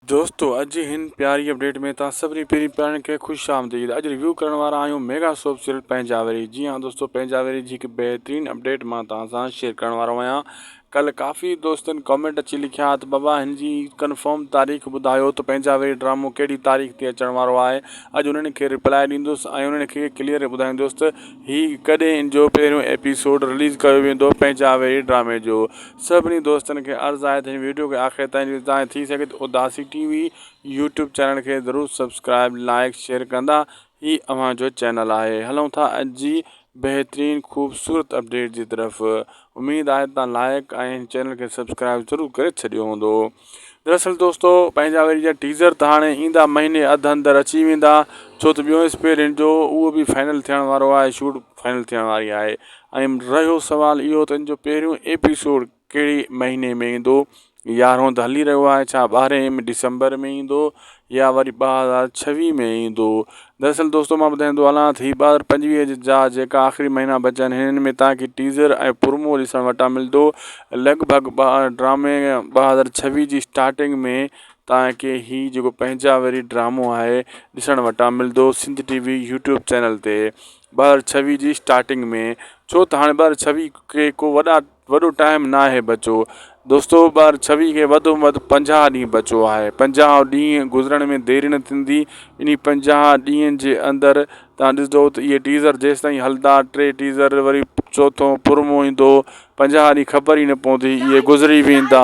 دوستو اڄ جي هن پياري اپڊيٽ ۾ توهان سڀني پيرين پيارن کي خوش آمديد اڄ ريويو ڪرڻ وارا آهيون ميگا سوپ سيريل پنهنجاوري جي ها دوستو پنهنجاوري جي هڪ بهترين اپڊيٽ مان توهان سان شيئر ڪرڻ وارو آهيان ڪل ڪافي دوستن ڪامينٽ اچي لکيا ها ته بابا هن جي ڪنفرم تاريخ ٻڌايو ته پنهنجاوري ڊرامو ڪهڙي تاريخ تي اچڻ وارو آهي اڄ انهن کي ريپلاء ڏيندس ۽ انهن کي ڪليئر ٻڌائيندس ته هي ڪڏهن جو پهريون ايپيسوڊ رليز ڪيو ويندو پنهنجاوري ڊرامي جو سڀني دوستن کي عرض آهي ته هن ويڊيو کي آخر تائين ڏسو ۽ ٿي سگهي ته اداسي ٽي وي يوٽيوب چينل کي ضرور سبسڪرائب لائيڪ شيئر ڪندا هي اوهان جو چينل آهي هلون ٿا اڄ جي بهترين خوبصورت اپڊيٽ جي طرف اميد آهي ته توهان لائيڪ ۽ هن چينل کي سبسڪرائب ضرور ڪري ڇڏيو هوندو. دراصل دوستو پنهنجا وري جا ٽيزر ته هاڻي ايندا مهيني اڌ اندر اچي ويندا ڇو ته ٻيو اسپيرنٽ جو اهو به فائنل ٿيڻ وارو آهي شوٽ فائنل ٿيڻ واري آهي ۽ رهيو سوال اهو ته ان جو پهريون ايپيسوڊ ڪهڙي مهيني ۾ ايندو يارهون ته هلي رهيو آهي ڇا ٻارهين ڊسمبر ۾ ايندو يا وري ٻه هزار ڇويهه ۾ ايندو. دراصل دوستو مان ٻڌائيندو هلان ته هي ٻه هزار پنجويهه جا جيڪا آخري مهينا بچيا آهن هنن ۾ توهان کي ٽيزر ۽ پرومو ڏسڻ وٽان ملندو لڳ ڀڳ ڊرامي ٻه هزار ڇويهه جي اسٽارٽنگ ۾ توهان کي هي جيڪو پنهنجا وري ڊرامو آهي ڏسڻ وٽان ملندو Sindh T V YouTube channel تي ٻه هزار ڇويهه جي اسٽارٽنگ ۾ ڇو ته هاڻي ٻه هزار ڇويهه کي ڪو وڏا وڏو ٽائيم ناهي بچو دوستو ٻار ڇويهه کي وڌ ۾ وڌ پنجاهه ڏينهن بچو آهي پنجاهه ڏينهن گذرڻ ۾ ديري نه ٿيندي انهي پنجاهه ڏينهن جي اندر تان ڏسدو ته اهي ٽيزر جيستائين هلدا ٽي ٽيزر وري چوٿو پرومو ايندو پنجاهه ڏينهن خبر ئي نه پوندي اهي گذري ويندا.